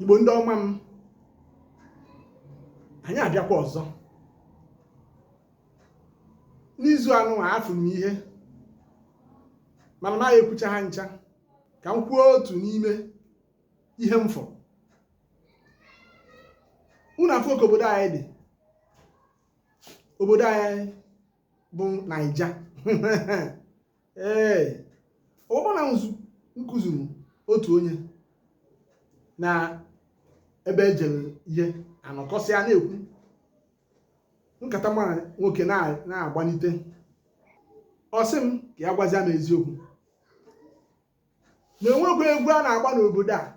igbo ndị ọma m anyị abịakwa ọzọ n'izu anụ a afụrụ m ihe mana na a ya-ekwucha ha ncha ka m kwuo otu n'ime ihe m fụrụ unu afụ ka obodo anyị dị obodo anyị bụ naija ee ọ bụ na m kụzuru otu onye na ebe m jere ihe anọkọsịa na-ekwu nkata mara nwoke na-agbanite ọ sị m ka ya gwazia m eziokwu na e nwekwa egwu a na-agba n'obodo a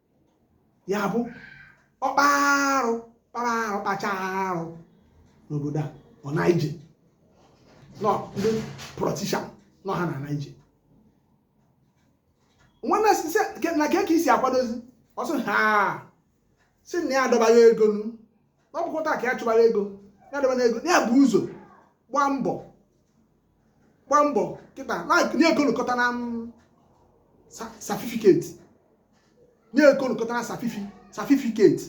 ya bụ ọkpa arụ kpara arụ kpacha arụ n'obodo a ọ na-eje na ndị politician nọ ha na naije nwanne na ka esi akwadozi ọsọ ha si na ya adọbara ego nu n'ọbụkọta ka ya chụbara ego ya adọbara ego ya bụ ụzọ gbaa mbọ gbaa mbọ kịta like nye ekolokọta na mm, certificate nye ekolokọta na certificate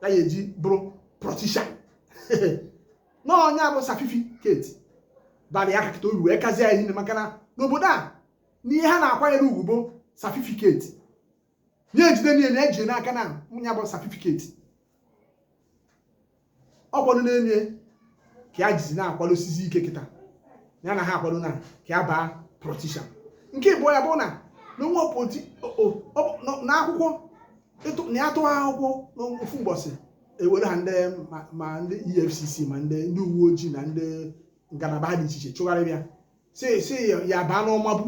ya ya eji bụrụ politician na onye abụ certificate bara ya kakịta oru wee kazie ya niile maka na n'obodo a na ihe ha na-akwanyere ugwu bụ certificate nye ejide niile na ejide n'aka na nwunye bụ certificate ọkwado na-enye ka ya jizi na-akwado osisi ike kịta ya na ha akwado na ka ya baa politician nke ịbụọ ya bụ na n'onwe poti n'akwụkwọ na ya tụwa akwụkwọ n'ofu mbọsị ewere ha ndị ma ndị efcc ma ndị ndị uwe ojii na ndị ngalaba ha dị iche iche chụgharịba ya si ya baa n'ọmagbu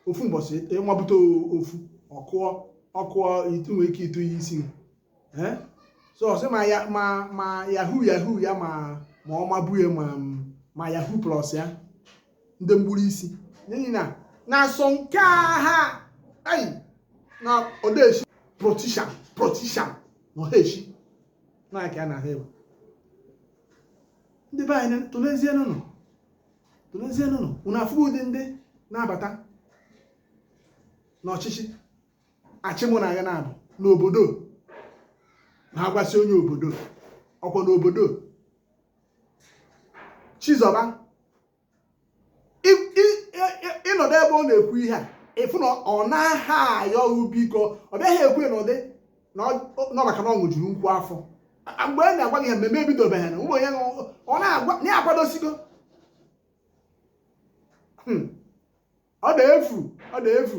ofu mbọsị ịmabute ofu ọkụọ ọkụọ itu nwee ike ịtụ ya isi Eh? so ọ sị ma ya ma ma yahoo yahoo ya ma ma ọ mabu ya ma ma yahoo plus ya ndị mgburu isi n'ihi na na asọ nke a ha ai na odeshi politician politician na oheshi na aka ya na ha ewe ndị be anyị tụlezie nụ tụlezienụ unu afụ ụdị ndị na-abata n'ọchịchị achị mụ na agha na-abụ n'obodo na-agwasị onye obodo okwu n'obodo chizọba ị nọdụ ebe ọ na-ekwu ihe a ị fụ na ọ naha ayọ gị biko ọ bịaghị ekwu n'ụdị na ọ- na ọ maka na ọ ṅụjuru nkwụ afọ A- mgbe a na-agwa gị ya mmemme ebidobeghị na ụmụ onye ṅụ- ọ na-agwa na ya akwadosigo Hmm. ọ na-efu ọ na-efu